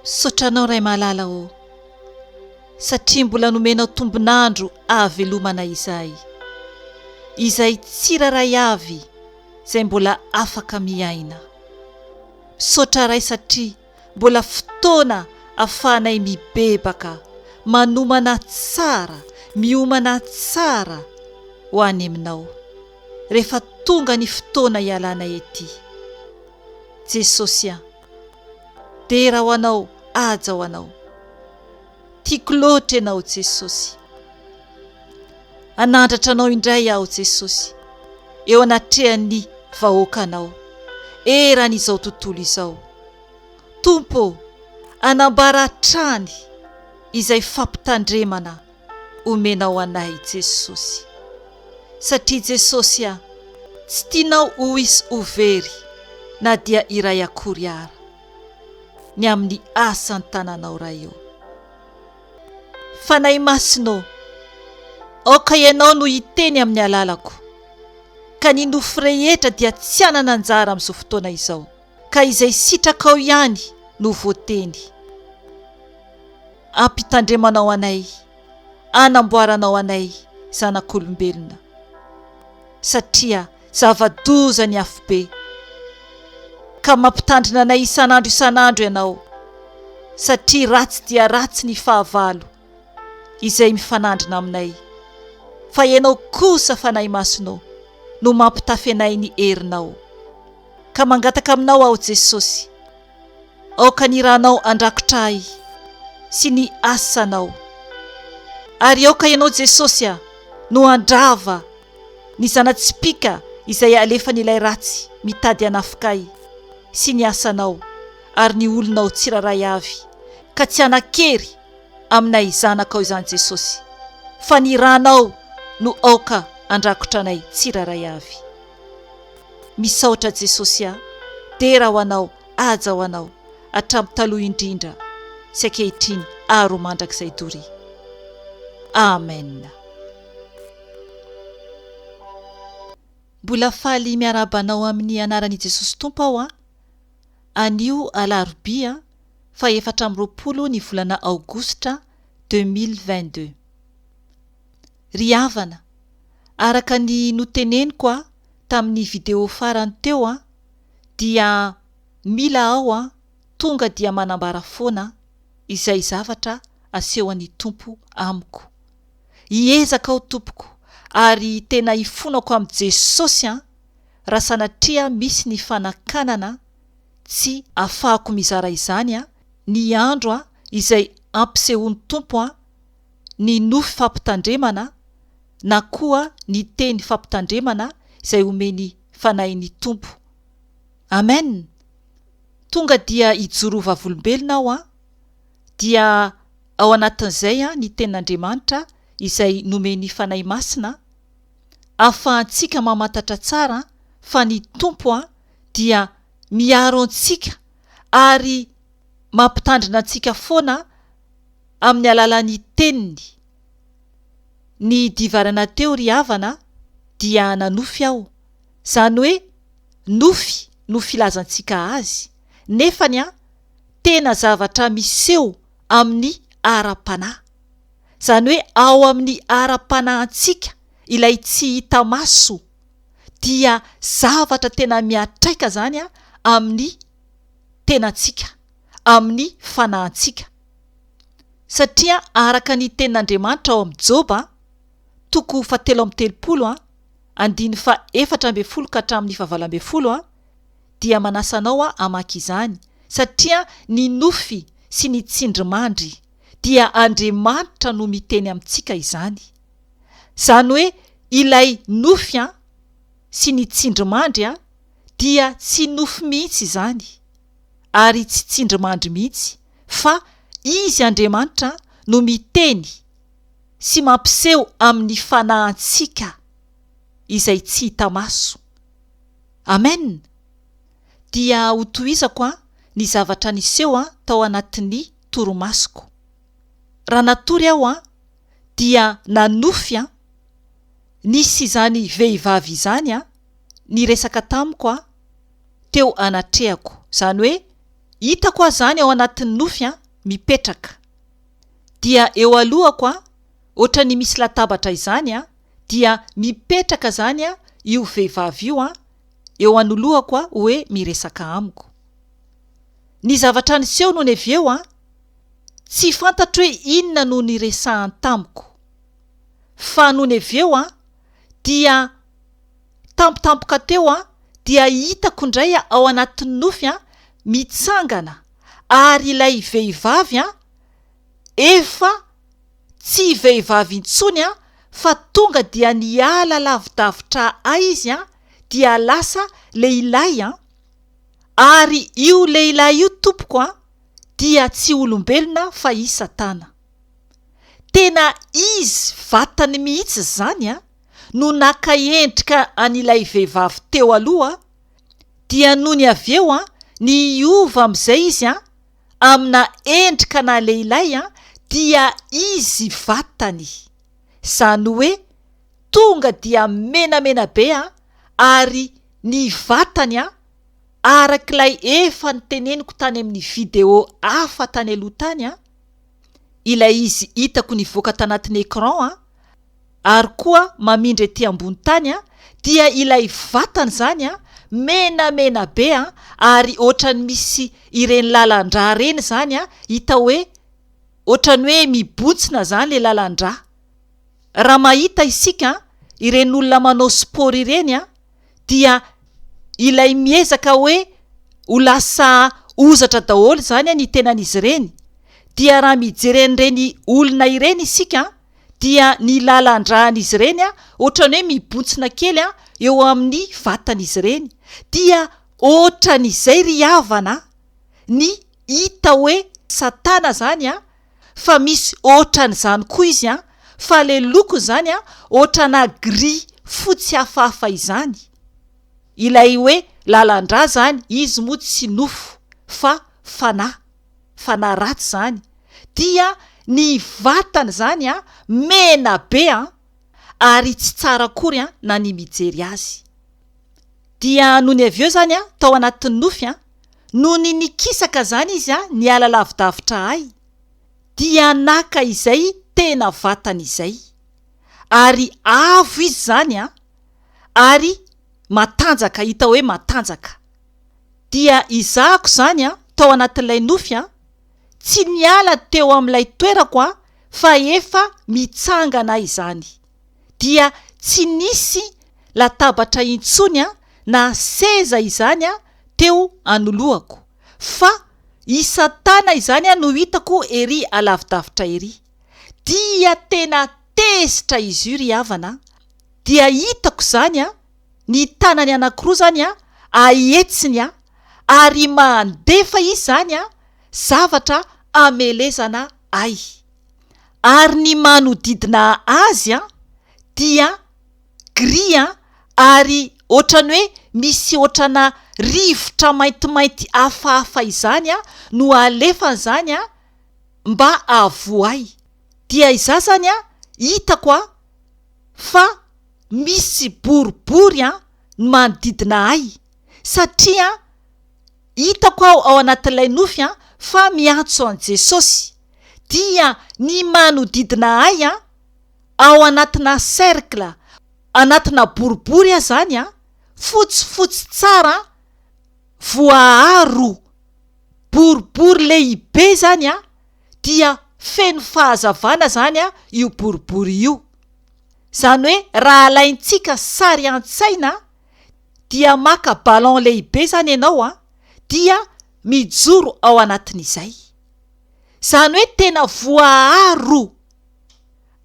Misaotra anao Ray malala ô satria mbola nomenao tombon'andro ahavelomana izahay izay tsirairay avy izay mbola afaka miaina. Misaotra Ray satria. Mbola fotoana afahanay mibebaka, manomana tsara, miomana tsara ho any Aminao, rehefa tonga ny fotoana hialanay ety. Jesosy an! Dera ho Anao, haja ho Anao. Tiako loatra Ianao Jesosy. Hanandratra Anao indray aho Jesosy, eo anatrehan'ny vahoakanao, eran'izao tontolo izao. Tompo ô, anambara hatrany izay fampitandremana omenao anay Jesosy. Satria Jesosy a, tsy tianao ho hisy ho very na dia iray akory ara. ny amin'ny asan-tananao Ray ô. Fanahy Masina ô, aoka Ianao no hiteny amin'ny alalako, ka ny nofo rehetra dia tsy hanana anjara amin'izao fotoana izao, ka izay sitrakao ihany no voateny. Ampitandremanao anay, anamboaranao anay zanak'olombelona, satria Zava-doza ny afobe, ka mampitandrina anay isan'andro isan'andro ianao, satria ratsy dia ratsy ny fahavalo izay mifanandrina aminay, fa ianao kosa, Fanahy Masina ô, no mampitafy anay ny herinao. Ka mangataka aminao aho, Jesosy, Aoka ny rànao handrakotra ahy sy ny asanao. Ary aoka ianao Jesosy a, no handrava ny zana-tsipìka izay alefan'ilay ratsy mitady hanafika ahy sy ny asanao ary ny olonao tsirairay avy, ka tsy hanan-kery aminay zanakao izany Jesosy, fa ny rànao no aoka handrakotra anay tsirairay avy. Misaotra Jesosy a! Dera ho Anao, haja ho Anao, hatramin'ny taloha indrindra, sy ankehitriny ary ho mandrakizay Dory. Amen. Mbola faly miarahaba anao amin'ny anaran'i Jesosy Tompo aho an! Anio alarobia faha efatra amby roapolo ny volana aogositra deux mille vingt deux. Ry havana, araka ny noteneniko a tamin'ny video farany teo a, dia mila aho a tonga dia manambara foana izay zavatra asehon'ny Tompo amiko. Hiezaka aho tompoko ary tena hifonako amin'i Jesosy a raha sanatria misy ny fanakanana tsy afahako mizara izany a ny andro a izay ampisehoan'ny Tompo a ny nofy fampitandremana na koa ny teny fampitandremana izay omen'ny Fanahin'ny Tompo. Amen! Tonga dia hijoro ho vavolombelona aho an! Dia ao anatin'izay an ny Tenin'Andriamanitra izay nomen'ny Fanahy Masina an! Ahafahantsika mamantatra tsara fa ny Tompo an dia miaro antsika ary mampitandrina antsika foana amin'ny alalan'ny teniny. Ny divarana teo ry havana dia nanofy aho, izany hoe nofy no filazantsika azy, nefany an, tena zavatra miseho amin'ny ara-panahy. Izany hoe ao amin'ny ara-panahintsika ilay tsy hita maso, dia zavatra tena miatraika izany amin'ny tenantsika, amin'ny fanahintsika. satria araka ny tenin'Andriamanitra ao amin'ny Joba, toko fahatelo amby telopolo, andininy fahefatra ambin'ny folo ka hatramin'ny fahavalo ambin'ny folo, dia manasa anao hamaky izany, satria ny nofy sy ny tsindrimandry dia Andriamanitra no miteny amintsika izany, izany hoe ilay nofy sy ny tsindrimandry dia tsy nofy mihitsy izany ary tsy tsindrimandry mihitsy, fa Izy Andriamanitra no miteny sy mampiseho amin'ny fanahintsika izay tsy hita maso. Amen! Dia hotohizako an ny zavatra niseho an tao anatin'ny torimasoko. Raha natory aho an dia nanofy an nisy izany vehivavy izany an niresaka tamiko an teo anatrehako, izany hoe hitako aho izany ao anatin'ny nofy an, mipetraka, dia eo alohako an, ohatra ny misy latabatra izany an, dia mipetraka izany an io vehivavy io an, eo anoloako an, hoe miresaka amiko. Ny zavatra niseho nony avy eo an, tsy fantatro hoe inona no niresahany tamiko, fa nony avy eo an, dia tampotampoka teo dia hitako indray ao anatin'ny nofy mitsangana ary ilay vehivavy efa tsy vehivavy intsony fa tonga dia niala lavidavitra ahy izy dia lasa lehilahy ary io lehilahy io tompoko dia tsy olombelona fa i Satana. Tena izy vatany mihitsy izany no naka endrika an'ilay vehivavy teo aloha dia nony avy eo niova amin'izay izy amina endrika ana lehilahy dia izy vatany izany hoe tonga dia menamena be ary ny vatany araka ilay efa noteneniko tany amin'ny video hafa tany aloha tany ilay izy hitako nivoaka tanatin'ny écran an, ary koa mamindra ety ambony tany an, dia ilay vatana izany an, menamena be an, ary ohatran'ny misy ireny lalan-drà ireny izany an, hita hoe ohatran'ny hoe mibontsina izany ilay lalan-drà. Raha mahita isika ireny olona manao sport ireny an. dia ilay miezaka hoe ho lasa hozatra daholo izany ny tenan'izy ireny, dia raha mijery an'ireny olona ireny isika dia ny lalan-dràn'izy ireny ohatran'ny hoe mibontsina kely eo amin'ny vatan'izy ireny, dia ohatran'izay ry havana ny hita hoe satana izany an! fa misy ohatran'izany koa izy an, fa le lokony izany an ohatrana gris fotsy hafahafa izany, ilay hoe lalandrà izany izy moa tsy nofo fa fanahy, fanahy ratsy izany, dia ny vatany izany an mena be an, ary tsy tsara akory an na ny mijery azy. Dia nony avy eo izany aho tao anatin'ny nofy an! Nony nikisaka izany izy an! niala lavidavitra ahy dia naka izay tena vatany izay ary avo izy izany an! ary matanjaka hita hoe matanjaka dia izahako izany an! tao anatin'ilay nofy an! tsy niala teo amin'ilay toerako an! fa efa mitsangana izany. dia tsy nisy latabatra intsony na seza izany teo anoloako fa i satana izany no hitako ery alavidavitra ery. Dia tena tezitra izy io ry havana a! dia hitako izany a! ny tanany anankiroa izany a! ahetsiny a! ary mandefa izy izany a! zavatra hamelezana ahy. ary ny manodidina azy dia gris ary ohatran'ny hoe misy ohatrana rivotra maintimainty hafahafa izany no alefany izany mba havoay, dia izaho izany hitako fa misy boribory ny manodidina ahy satria. Hitako aho ao anatin'ilay nofy fa miantso an'i Jesosy, dia ny manodidina ahy, ao anatinà cercle, anatinà boribory aza any, fotsifotsy tsara, voaaro, boribory lehibe izany, dia feno fahazavana izany io boribory io. Izany hoe raha alaintsika sary an-tsaina. dia maka ballon lehibe izany ianao an, dia mijoro ao anatin'izay. Izany hoe tena voaaro.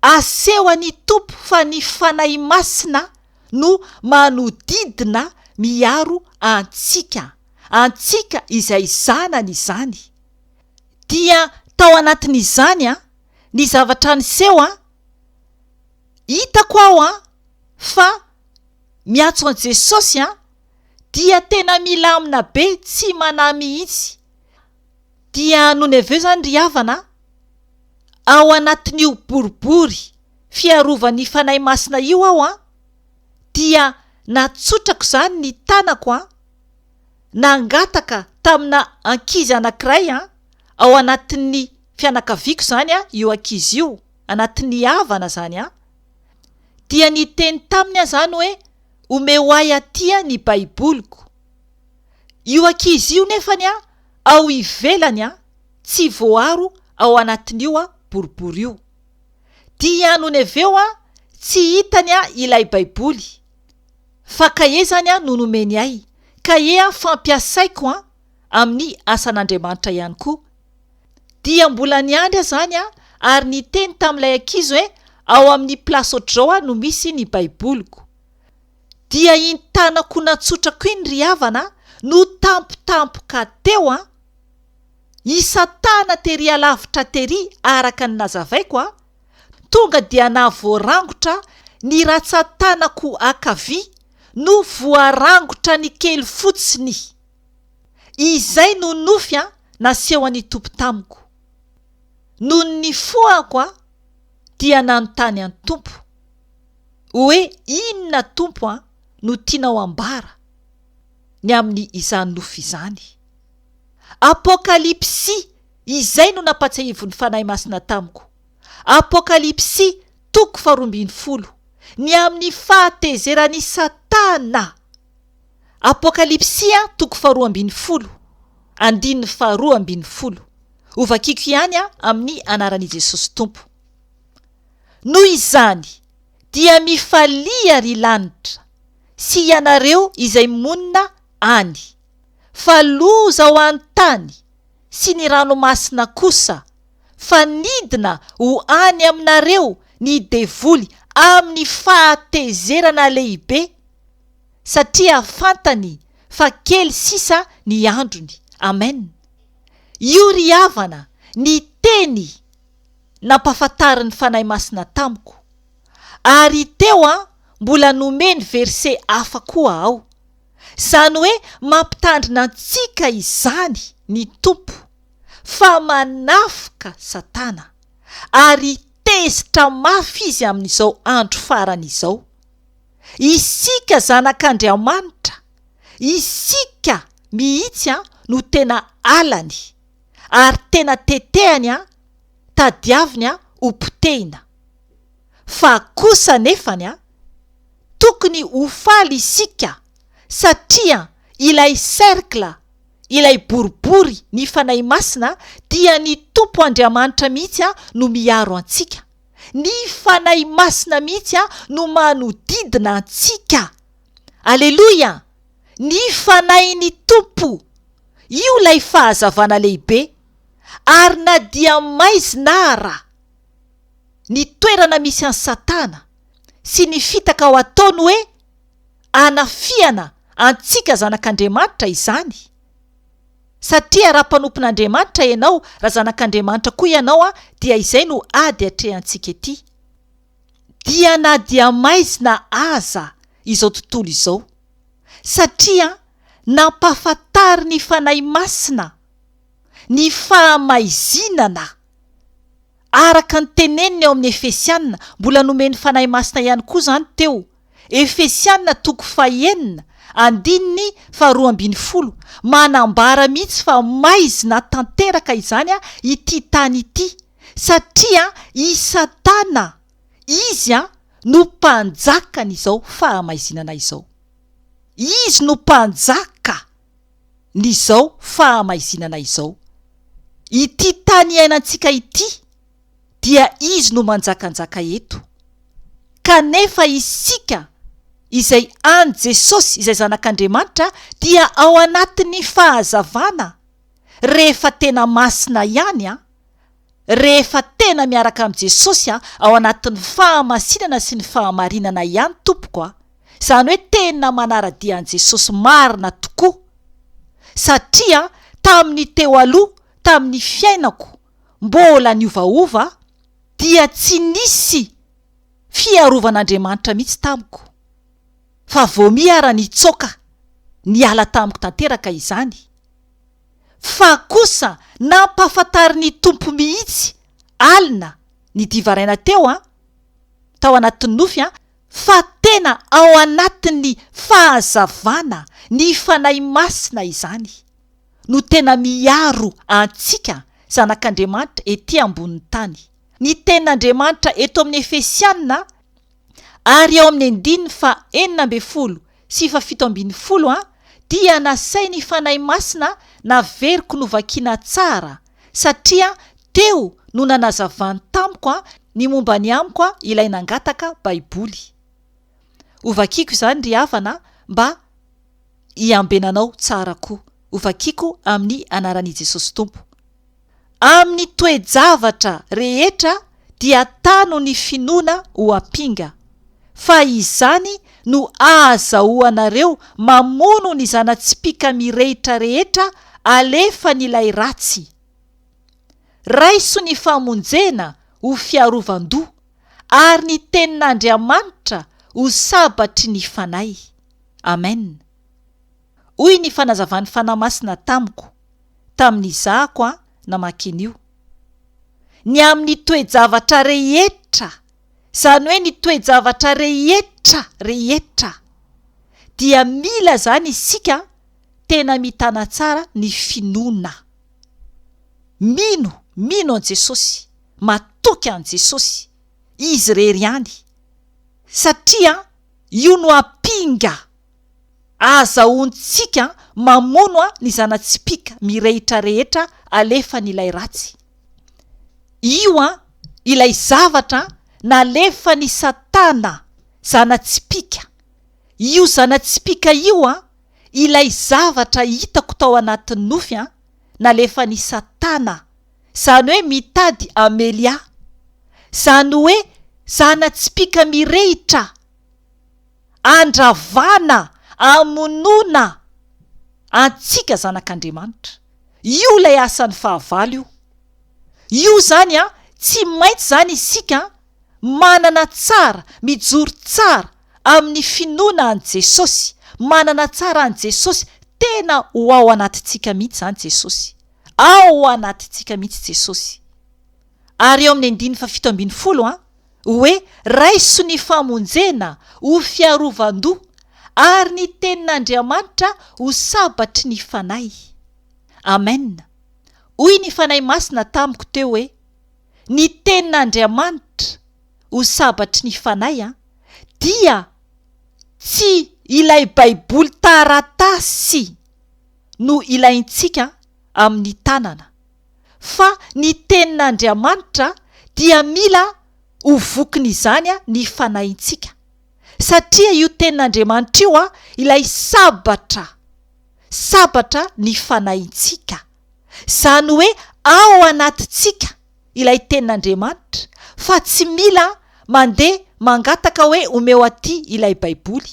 Asehon'ny Tompo fa ny Fanahy Masina no manodidina miaro antsika, antsika izay zanany izany. Dia tao anatin'izany an, ny zavatra niseho an, hitako aho an, fa. miantso an'i Jesosy an, dia tena milamina be tsy manahy mihitsy. Dia nony avy eo izany ry havana, ao anatin'io boribory fiarovan'ny Fanahy Masina io aho an, dia natsotrako izany ny tanako an, nangataka tamina ankizy anankiray an, ao anatin'ny fianakaviako izany io ankizy io, anatin'ny havana izany an. dia niteny taminy aho izany hoe omeo ahy aty ny baiboliko. Io ankizy io nefa ny aho ao ivelany aho tsy voaro ao anatin'io aho boribory io. Dia nony avy eo aho tsy hitany aho ilay baiboly fa kahe izany aho no nomeny ahy kahe aho fampiasaiko aho amin'ny asan'Andriamanitra ihany koa. Dia mbola niandry aho izany aho ary niteny tamin'ilay ankizy hoe ao amin'ny place au draw no misy ny baiboliko. Dia iny tanako natsotrako iny ry havana no tampotampoka teo an! I Satana tery alavitra tery araka ny nazavaiko an! Tonga dia na voarangotra ny ratsan-tanako ankavia no voarangotra ny kely fotsiny. Izay no nofy nasehon'ny Tompo tamiko. Nony nifohako dia nanontany an'i Tompo hoe inona Tompo no tianao ambara ny amin'ny izany nofy izany. Apokalypsy izay no nampatsiahivin'ny Fanahy Masina tamiko. Apokalypsy toko faharoa ambin'ny folo, ny amin'ny fahatezeran'i Satana. Apokalypsia toko faharoa ambin'ny folo, andininy faharoa ambin'ny folo. Hovakiko ihany aho amin'ny anaran'i Jesosy Tompo. Noho izany, dia mifalia ry lanitra, sy ianareo izay monina any, fa loza ho an'ny tany sy ny ranomasina kosa, fa nidina ho any aminareo ny devoly amin'ny fahatezerana lehibe, satria fantany fa kely sisa ny androny. Amen. Io ry havana ny teny nampafantarin'ny Fanahy Masina tamiko. Ary teo an, mbola nomeny verset hafa koa aho. Zany hoe mampitandrina antsika izany ny Tompo fa manafoka Satana ary tezitra mafy izy amin'izao andro farany izao. Isika zanak'Andriamanitra, isika mihitsy no tena alany, ary tena tetehany, tadiaviny ho potehina. Fa kosa anefa, tokony ho faly isika, satria ilay cercle, ilay boribory ny Fanahy Masina, dia ny Tompo Andriamanitra mihitsy no miaro antsika. Ny Fanahy Masina mihitsy no manodidina antsika. Aleloia! Ny Fanahin'ny Tompo! Io ilay fahazavana lehibe. Ary na dia maizina ara ny toerana misy an'i Satana sy ny fitaka ho ataony hoe anafihana antsika zanak'Andriamanitra izany, Satria raha mpanompon'Andriamanitra ianao, raha zanak'Andriamanitra koa ianao, dia izay no ady atrehantsika ety. Dia na dia maizina aza izao tontolo izao. Satria nampahafantarin'ny Fanahy Masina ny fahamaizinana. Araka ny teneniny ao amin'ny Efesiana, mbola nomen'ny Fanahy Masina ihany koa izany teo. Efesiana toko fahenina, andininy faharoa ambin'ny folo, manambara mihitsy fa maizina tanteraka izany ity tany ity, satria i Satana, izy no mpanjakan'izao fahamaizinana izao. Izy no mpanjaka! ny izao fahamaizinana izao. Ity tany iainantsika ity dia izy no manjakanjaka eto. Kanefa isika izay an'i Jesosy izay zanak'Andriamanitra dia ao anatin'ny fahazavana rehefa tena masina ihany an! Rehefa tena miaraka amin'i Jesosy ao anatin'ny fahamasinana sy ny fahamarinana ihany tompoko a! Izany hoe tena manara-dia an'i Jesosy marina tokoa. Satria tamin'ny teo aloha, tamin'ny fiainako mbola niovaova dia tsy nisy fiarovan'Andriamanitra mihitsy tamiko. Fa voamiha ary nitsoaka niala tamiko tanteraka izany. fa kosa nampahafantarin'ny Tompo mihitsy alina nidivaraina teo an, tao anatin'ny nofy an, fa tena ao anatin'ny fahazavana ny Fanahy Masina izany no tena miaro antsika zanak'Andriamanitra ety ambonin'ny tany. Ny tenin'Andriamanitra eto amin'ny Efesiana. ary ao amin'ny andininy faha enina ambin'ny folo sy faha fito ambin'ny folo dia nasain'ny Fanahy Masina naveriko novakina tsara satria teo no nanazavany tamiko ny momba ny amiko ilay nangataka baiboly hovakiko izany ry havana mba hiambenanao tsara koa hovakiko amin'ny anaran'i Jesosy Tompo Amin'ny toe-javatra rehetra dia tano ny finoana ho ampinga, fa izany no ahazahoanareo mamono ny zana-tsipìka mirehitra rehetra alefan'ilay ratsy. Raiso ny famonjena ho fiarovan-doha, ary ny tenin'Andriamanitra ho sabatry ny fanahy. Amena. Hoy ny fanazavan'ny Fanahy Masina tamiko, tamin'izahako aho namaky an'io, Ny amin'ny toe-javatra rehetra, izany hoe ny toe-javatra rehetra rehetra, dia mila izany isika tena mitana tsara ny finoana. Mino, mino an'i Jesosy, matoky an'i Jesosy, Izy irery ihany, satria Io no ampinga Ahazahoantsika mamono ny zana-tsipìka mirehitra rehetra alefan'ilay ratsy. Io ilay zavatra nalefan'i Satana, zana-tsipìka. Io zana-tsipìka io ilay zavatra hitako tao anatin'ny nofy nalefan'i Satana, izany hoe mitady hamely ahy. Izany hoe zana-tsipìka mirehitra. Andravana, amonoana antsika zanak'Andriamanitra. Io ilay asan'ny fahavalo io. Io izany an, tsy maintsy izany isika an, manana tsara, mijoro tsara amin'ny finoana an'i Jesosy, manana tsara an'i Jesosy, tena ho ao anatintsika mihitsy izany Jesosy. Ao anatintsika mihitsy Jesosy. Ary eo amin'ny andininy fahafito ambin'ny folo an, Hoe raiso ny famonjena ho fiarovan-doha, ary ny tenin'Andriamanitra ho sabatry ny fanahy. Amen. Hoy ny Fanahy Masina tamiko teo hoe, Ny tenin'Andriamanitra ho sabatry ny fanahy an, dia tsy ilay Baiboly taratasy no ilaintsika amin'ny tanana. fa ny tenin'Andriamanitra dia mila ho vokin'izany ny fanahintsika, satria io tenin'Andriamanitra io ilay sabatra, sabatra ny fanahintsika, izany hoe ao anatintsika ilay tenin'Andriamanitra fa tsy mila mandeha mangataka hoe omeo aty ilay baiboly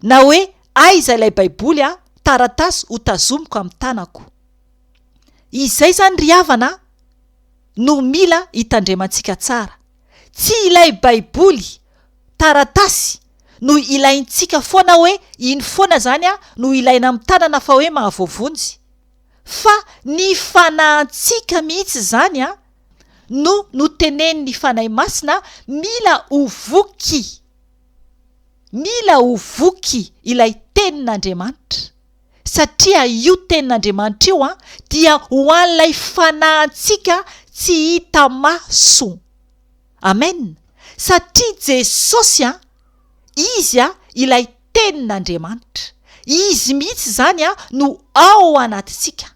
na hoe aiza ilay baiboly a, taratasy hotazomiko amin'ny tanako. Izay izany ry havana a! no mila hitandremantsika tsara. Tsy ilay baiboly, taratasy, no ilaintsika foana hoe iny foana izany no ilaina amin'ny tanana fa hoe mahavoavonjy, fa ny fanahintsika mihitsy izany no notenenin'ny Fanahy Masina mila ho voky. Mila ho voky ilay Tenin'Andriamanitra. satria io Tenin'Andriamanitra io dia ho an'ilay fanahintsika tsy hita maso. Amen! Satria Jesosy, Izy ilay Tenin'Andriamanitra. Izy mihitsy izany no ao anatintsika.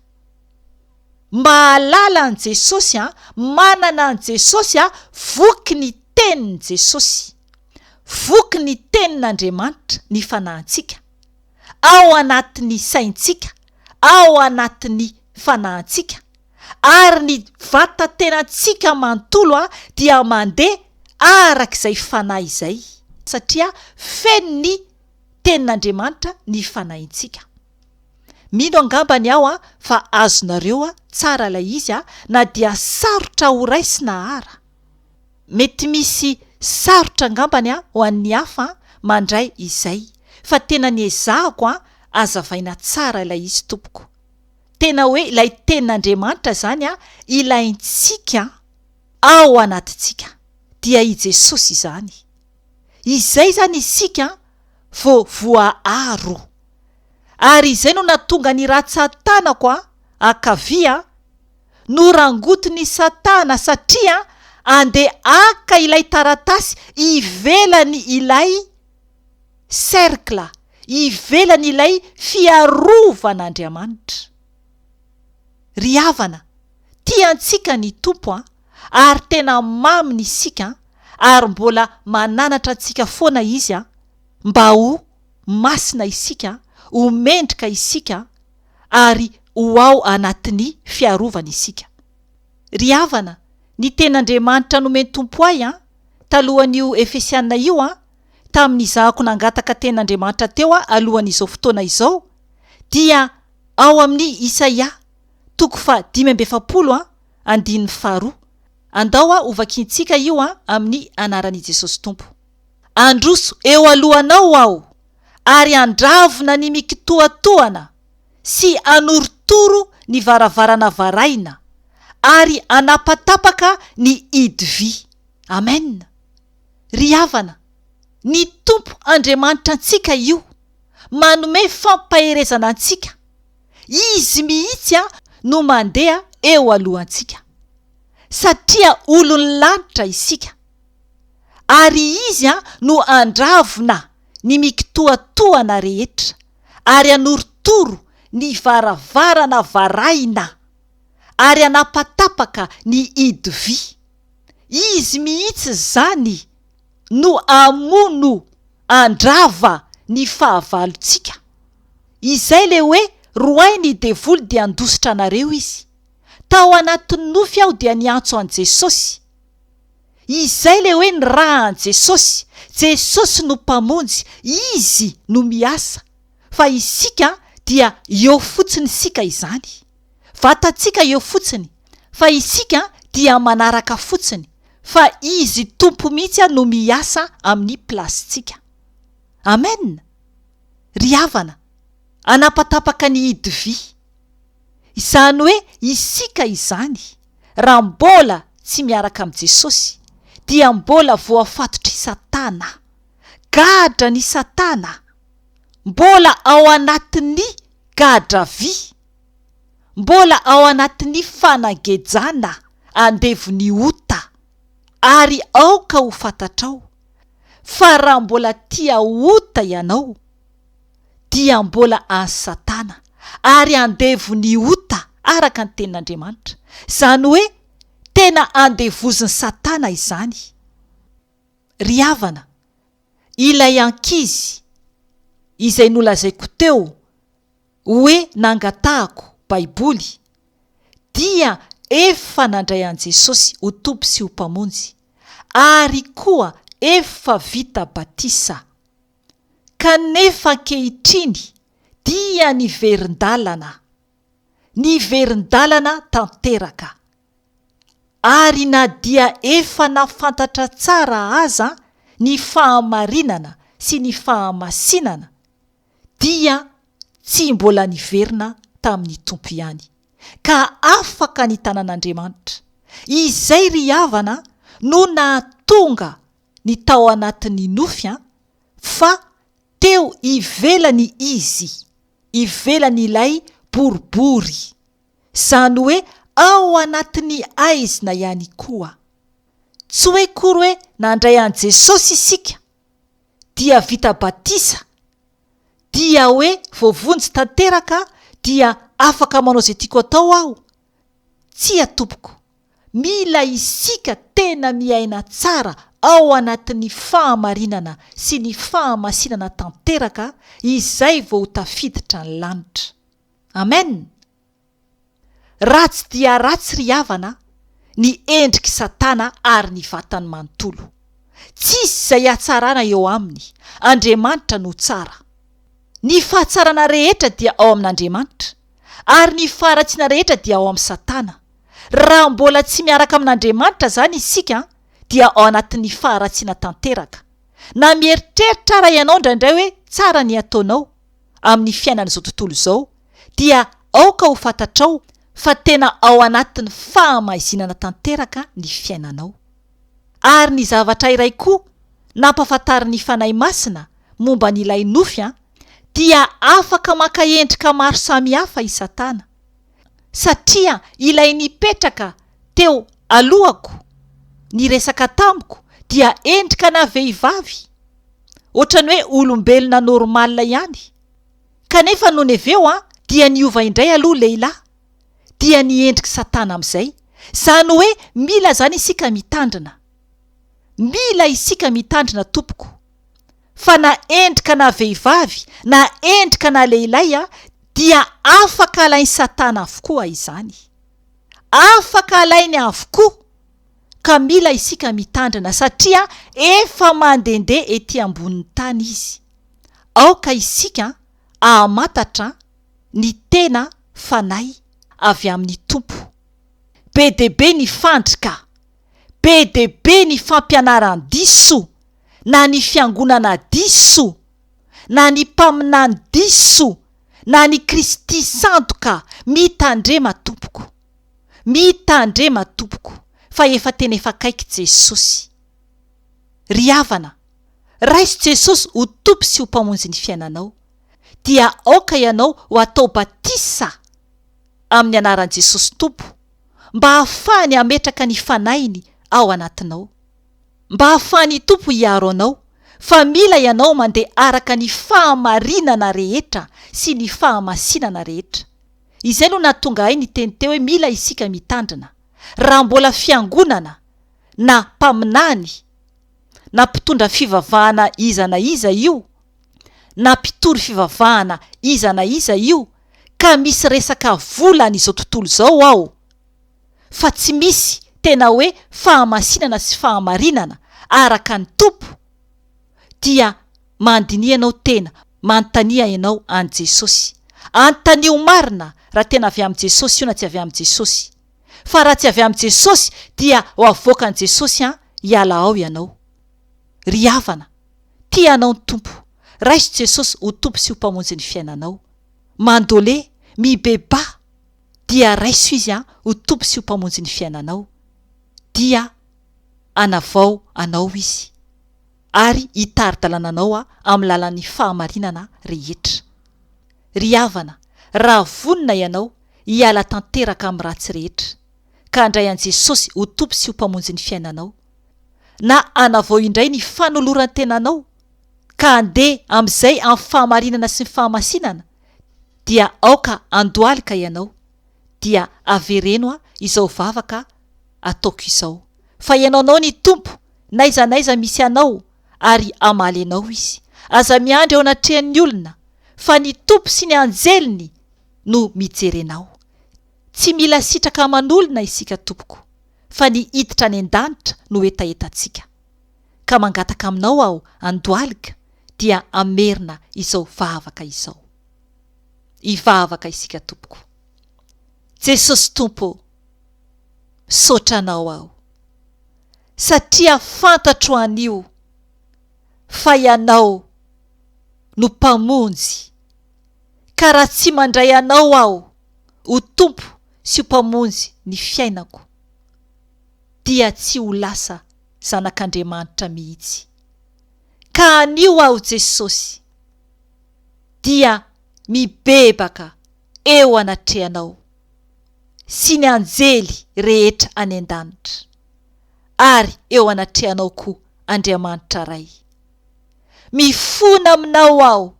Mahalala an'i Jesosy, manana an'i Jesosy, voky ny Tenin'i Jesosy. Voky ny Tenin'Andriamanitra ny fanahintsika. ao anatin'ny saintsika, ao anatin'ny fanahintsika, ary ny vatatenantsika manontolo dia mandeha araka izay fanahy izay, satria fenon'ny Tenin'Andriamanitra ny fanahintsika. Mino angambany aho fa azonareo tsara ilay izy, na dia sarotra horaisina àra. Mety misy sarotra angambany ho an'ny hafa mandray izay fa tena ny ezahako azavaina tsara ilay izy tompoko. Tena hoe ilay tenin'Andriamanitra izany ilaintsika ao anatintsika dia i Jesosy izany. Izay izany isika vao voaaro. Ary izay no nahatonga ny ratsan-tanako ankavia no rangotin'i Satana satria andeha haka ilay taratasy ivelany ilay cercle, ivelany ilay fiarovan'Andriamanitra. Ry havana, tia antsika ny Tompo an, ary tena maminy isika an, ary mbola mananatra antsika foana Izy an, mba ho masina isika, ho mendrika isika, ary ho ao anatin'ny fiarovany isika. Ry havana, ny tena Andriamanitra nomen Tompo ahy an, talohan'io Efesiana io an, tamin'izahako nangataka tena Andriamanitra teo an alohan'izao fotoana izao, dia ao amin'ny Isaia, toko faha dimy amby efapolo an, andininy faharoa. Andao an hovakintsika io an amin'ny anaran'i Jesosy Tompo. Handroso eo alohanao aho, ary handravona ny mikitoatoana, sy hanorotoro ny varavarana varahina, ary hanapatapaka ny hidy vy. Amen. Ry havana, ny Tompo Andriamanitra antsika io, manome fampaherezana antsika. Izy mihitsy no mandeha eo alohantsika. Satria olon'ny lanitra isika, ary izy no handravona ny mikitoatoana rehetra, ary hanorotoro ny varavarana varahina, ary hanapatapaka ny hidi-vy, izy mihitsy izany no hamono handrava ny fahavalontsika, izay ilay hoe, Roahy ny devoly dia handositra anareo izy, tao anatin'ny nofy aho dia niantso an'i Jesosy, Izay ilay hoe ny ra an'i Jesosy. Jesosy no Mpamonjy, Izy no miasa, fa isika dia eo fotsiny isika izany. Vatantsika eo fotsiny, fa isika dia manaraka fotsiny, fa Izy Tompo mihitsy no miasa amin'ny plasintsika. Amen! Ry havana, anapatapaka ny hidivy. Izany hoe isika izany, raha mbola tsy miaraka amin'i Jesosy, dia mbola voafatotr'i Satana. Gadra ny Satana! Mbola ao anatin'ny gadra vy! Mbola ao anatin'ny fanagejana andevon'ny ota! Ary aoka ho fantatrao, fa raha mbola tia ota ianao, dia mbola an'i Satana, ary andevo ny ota araka ny tenin'Andriamanitra, izany hoe tena andevozin'i Satana izany. Ry havana, ilay ankizy izay nolazaiko teo hoe nangatahako Baiboly dia efa nandray an'i Jesosy ho Tompo sy ho Mpamonjy ary koa efa vita batisa. Kanefa ankehitriny dia niverin-dalana, niverin-dalana tanteraka. Ary na dia efa nafantatra tsara aza ny fahamarinana sy ny fahamasinana, dia tsy mbola niverina tamin'ny Tompo ihany, ka afaka nitana an'Andriamanitra. Izay ry havana no nahatonga ny tao anatin'ny nofy an, fa teo ivelany izy, ivelan'ilay boribory, zany hoe ao anatin'ny aizina ihany koa. Tsy hoe kory hoe nandray an'i Jesosy isika, dia vita batisa, dia hoe voavonjy tanteraka dia afaka manao izay tiako atao aho, Tsia tompoko, mila isika tena miaina tsara ao anatin'ny fahamarinana sy ny fahamasinana tanteraka izay vao tafiditra ny lanitra. Amen! Ratsy dia ratsy ry havana ny endrik'i Satana ary ny vatany manontolo. Tsisy izay hatsarana eo aminy, Andriamanitra no tsara. Ny fahatsarana rehetra dia ao amin'Andriamanitra. ary ny faharatsiana rehetra dia ao amin'i Satana. Raha mbola tsy miaraka amin'Andriamanitra izany isika, dia ao anatin'ny faharatsiana tanteraka. Na mieritreritra àra ianao indraindray hoe tsara ny ataonao amin'ny fiainan'izao tontolo izao, dia aoka ho fantatrao fa tena ao anatin'ny fahamaizinana tanteraka ny fiainanao. Ary ny zavatra iray koa nampahafantarin'ny Fanahy Masina momba an'ilay nofy dia afaka maka endrika maro samihafa i Satana, satria ilay nipetraka teo alohako niresaka tamiko dia endrikana vehivavy, ohatran'ny hoe olombelona normal ihany, kanefa nony avy eo dia niova indray aloha lehilahy, dia niendrik'i Satana amin'izay. Izany hoe mila izany isika mitandrina. Mila isika mitandrina tompoko. fa na endrika na vehivavy, na endrika na lehilahy, dia afaka alain'i Satana avokoa izany. Afaka alainy avokoa, ka mila isika mitandrina, satria efa mandehandeha etỳ ambonin'ny tany izy. Aoka isika ahamantatra ny tena fanahy avy amin'ny Tompo. Be dia be ny fandrika! Be dia be ny fampianaran-diso, na ny fiangonana diso, na ny mpaminany diso, na ny Kristy sandoka, mitandrema tompoko, mitandrema tompoko fa efa tena efa akaiky Jesosy. Ry havana, raiso Jesosy ho Tompo sy ho Mpamonjy ny fiainanao, dia aoka ianao ho atao batisa amin'ny anaran'i Jesosy Tompo, mba hahafahany hametraka ny fanahiny ao anatinao, mba hahafahan'ny Tompo hiaro anao, fa mila ianao mandeha araka ny fahamarinana rehetra sy ny fahamasinana rehetra. Izay no nahatonga ahy niteny teo hoe mila isika mitandrina, raha mbola fiangonana, na mpaminany, na mpitondra fivavahana iza na iza io, na mpitory fivavahana iza na iza io ka misy resaka vola an'izao tontolo izao ao fa tsy misy tena hoe fahamasinana sy fahamarinana araka ny Tompo dia mandiniha ianao tena manontania ianao an'i Jesosy anontanio marina raha tena avy amin'i Jesosy io na tsy avy amin'i Jesosy fa raha tsy avy amin'i Jesosy dia ho avoakan'i Jesosy an hiala ao ianao ry havana Tia anao ny Tompo. Raiso Jesosy ho Tompo sy ho Mpamonjy ny fiainanao. Mandole, mibebaha, dia raiso Izy an ho Tompo sy ho Mpamonjy ny fiainanao. Dia anavao anao Izy. Ary hitari-dalana anao amin'ny lalan'ny fahamarinana rehetra. Ry havana, raha vonona ianao hiala tanteraka amin'ny ratsy rehetra, ka handray an'i Jesosy ho Tompo sy ho Mpamonjy ny fiainanao, na hanavao indray ny fanoloran-tenanao ka handeha amin'izay amin'ny fahamarinana sy ny fahamasinana, dia aoka handohalika ianao, dia avereno izao vavaka ataoko izao, fa ianao anao ny Tompo n'aiza n'aiza misy anao, ary hamaly anao Izy. Aza miandry eo anatrehan'ny olona, fa ny Tompo sy ny anjeliny no mijery anao. Tsy mila sitraka aman'olona isika tompoko fa ny hiditra any an-danitra no hetahetantsika. Ka mangataka aminao aho andohalika dia hamerina izao vavaka izao. Hivavaka isika tompoko. Jesosy Tompo ô! Misaotra anao aho. Satria fantatro anio fa ianao no mpamonjy Ka raha tsy mandray Anao aho ho Tompo sy ho Mpamonjy ny fiainako, dia tsy ho lasa zanak'Andriamanitra mihitsy. Ka anio aho Jesosy dia mibebaka eo anatrehanao sy ny anjely rehetra any an-danitra, ary eo anatrehanao koa Andriamanitra Ray. Mifona aminao aho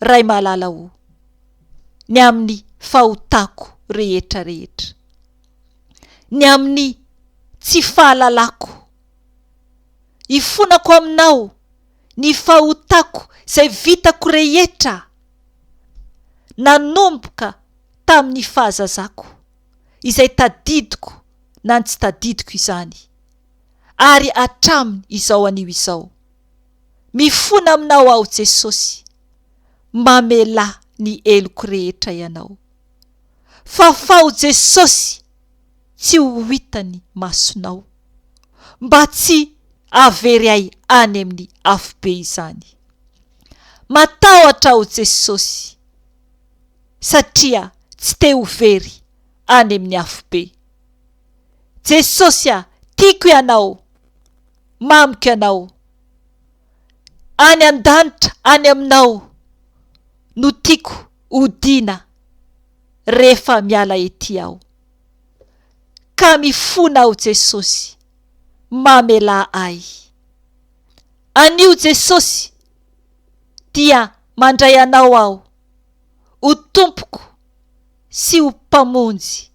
Ray malala o! Ny amin'ny fahotako rehetra rehetra. Ny amin'ny tsy fahalalako. Ifonako aminao ny fahotako izay vitako rehetra nanomboka tamin'ny fahazazako, izay tadidiko na ny tsy tadidiko izany. ary hatramin izao anio izao. Mifona aminao aho Jesosy, mamelà ny heloko rehetra ianao. Fafaho Jesosy tsy ho hitan'ny masonao, mba tsy hahavery ahy any amin'ny afobe izany. Matahotra aho Jesosy, satria tsy te ho very any amin'ny afobe. Jesosy a! Tiako Ianao! Mamiko Ianao! Any an-danitra, any Aminao no tiako hodiana rehefa miala ety aho. Ka mifona aho Jesosy, mamelà ahy. Anio Jesosy dia mandray Anao aho ho Tompoko. sy ho Mpamonjy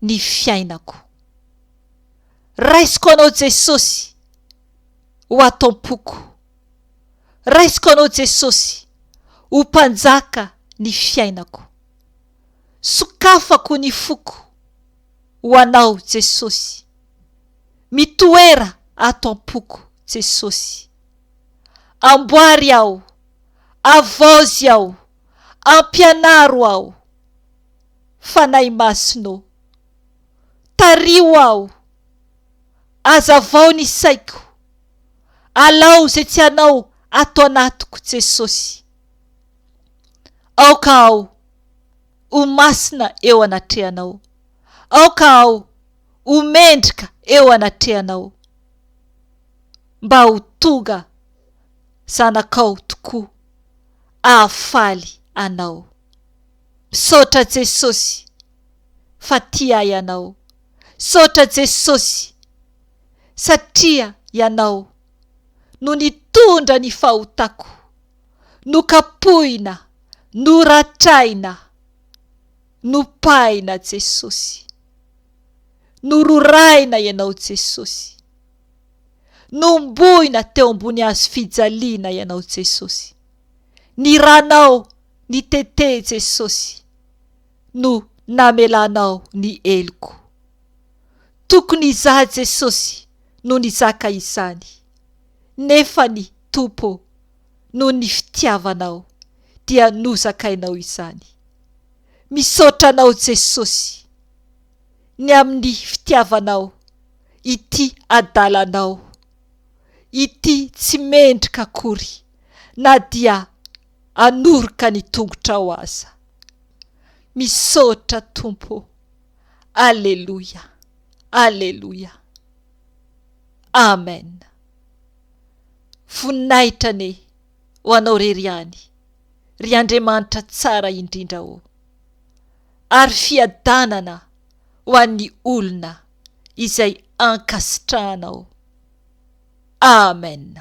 ny fiainako. Raisiko Anao Jesosy ho Atom-poko. Raisiko Anao Jesosy ho Mpanjaka ny fiainako. Sokafako ny foko ho Anao Jesosy. Mitoera ato am-poko Jesosy. Amboary aho, avaozy aho Ampianaro aho, Fanahy Masina ô. Tariho aho. Azavao ny saiko. Alao izay tsy Anao ato anatiko, Jesosy. Aoka aho ho masina eo anatrehanao. Aoka aho ho mendrika eo anatrehanao. Mba ho tonga zanakao tokoa. Hahafaly anao. Misaotra Jesosy fa tia ahy ianao. Misaotra Jesosy satria ianao no nitondra ny fahotako. Nokapohina, noratraina, nopahina Jesosy. Nororahina ianao Jesosy. Nombohina teo ambony hazo fijaliana Ianao Jesosy. Ny Ranao nitete Jesosy no namelanao ny heloko. Tokony izaho Jesosy no nizaka izany, nefa ny Tompo noho ny fitiavanao dia nozakainao izany. Misaotra Anao Jesosy, ny amin'ny fitiavanao, ity adalanao ity tsy mendrika akory na dia anoroka ny tongotrao aza. Misaotra Tompo o! Aleloia! Aleloia! Amen! Voninahitra anie ho Anao irery ihany, ry Andriamanitra tsara indrindra ô! Ary fiadanana ho an'ny olona izay ankasitrahanao. Amen.